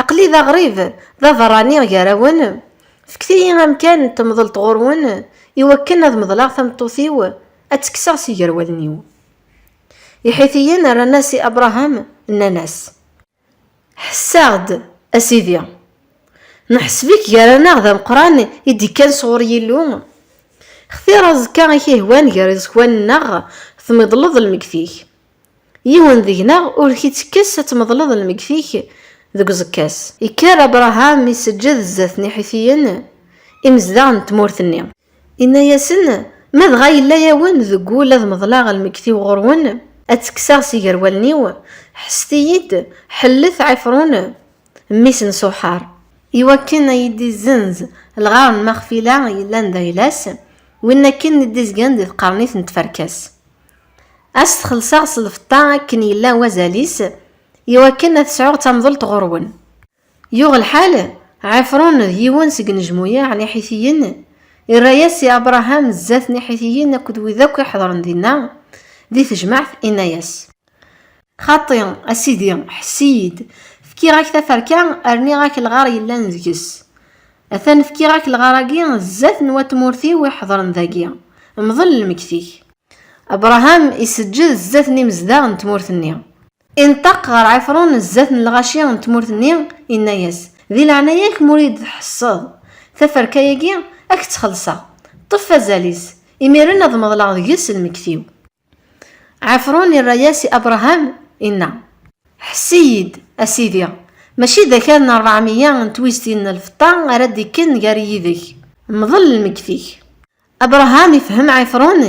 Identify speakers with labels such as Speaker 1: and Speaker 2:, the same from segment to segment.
Speaker 1: Aql-i d aɣrib, d aberrani gar-awen, fket-iyi amkan n temḍelt ɣur-wen, iwakken ad meḍleɣ tameṭṭut-iw, ad tt-kkseɣ si gar wallen-iw. Iḥitiyen rran-as i Abṛaham, nnan-as, Ḥess-aɣ-d, a sidi! Neḥseb-ik gar-aneɣ d ameqran i d-ikkan sɣur Yillu. Xtir aẓekka i k-ihwan gar iẓekwan-nneɣ, tmeḍleḍ lmeggti-k, Yiwen deg-neɣ ur k-ittekkes ad tmeḍleḍ lmeyyet-ik deg uẓekka-s. Ikker Abṛaham iseǧǧed zdat n Iḥitiyen, imezdaɣ n tmurt-nni. Inna-yasen, Ma dɣa yella-yawen deg wul ad meḍleɣ lmeyyet-iw ɣur-wen, ad ttekkseɣ si ger wallen-iw, ḥesset-iyi-d, ḥellet Ɛifṛun, mmi-s n Ṣuḥaṛ. Iwakken ad yi-d-izzenz lɣar n Maxfila yellan d ayla-s, win akken i d-izgan di tqernit n tferka-s. Ad s-t-xellṣeɣ s lfeṭṭa akken yella wazal-is, i wakken ad sɛuɣ tamḍelt ɣur-wen. Yuɣ lḥal, Ɛifṛun d yiwen seg inejmuyaɛ n Iḥitiyen, irra-yas i Abṛaham zdat n Iḥitiyen akked wid akk iḥeḍren dinna, di tejmaɛt, inna-yas. Xaṭi, a Sidi, ḥess-iyi-d, fkiɣ-ak taferka, rniɣ-ak lɣar yellan deg-s. Atan fkiɣ-ak lɣar-agi zdat n wat tmurt-iw iḥedren dagi. Mḍel lmekti-k. Abṛaham iseǧǧed zdat n imezdaɣ n tmurt-nni. Ineṭṭaq ɣer Ɛifṛun zdat n lɣaci n tmurt-nni, inna-yas, Di leɛnaya-k m'ur iyi-d-tḥesseḍ taferka-agi, a k-tt-xelṣeɣ. Ṭṭef azal-is, imiren ad meḍleɣ deg-s lmekti-w. Ɛefṛun irra-yas i Abṛaham, inna. Ḥess-iyi-d, a sidi, mačči d akal n ṛebɛemeyya n twiztin n lfeṭṭa ara d-ikken gar-i yid-k. Mḍel lmeyyet-ik. Abṛaham ifehhem Ɛefṛun,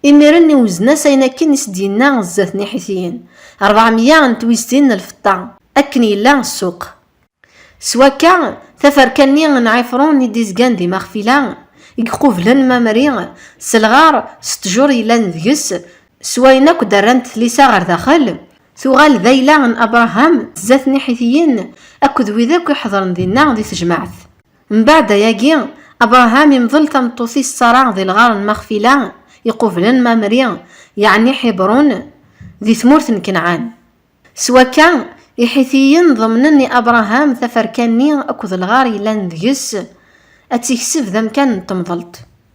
Speaker 1: imiren iwzen-as ayen akken i s-d-yenna zdat n Iḥitiyen, ṛebɛemeyya n twiztin n lfeṭṭa, akken yella ssuq. S wakka, taferka-nni n Ɛifṛun i d-izgan di Maxfila, i iqublen Mamri, s lɣar, s ṭṭjur yellan deg-s, s wayen akk d-rrant tlisa ɣer daxel, tuɣal d ayla n Abṛaham, d zdat n Iḥitiyen akked wid akk iḥeḍren dinna di tejmaɛt. Mbeɛd ayagi, Abṛaham imḍel tameṭṭut-is Ṣara di lɣar n Maxfila, iqublen Mamri, yeɛni Ḥibṛun, di tmurt n Kanɛan. S wakka, Iḥitiyen ḍemnen i Abṛaham taferka-nni akked lɣar yellan deg-s, ad tt-ikseb d amkan n temḍelt.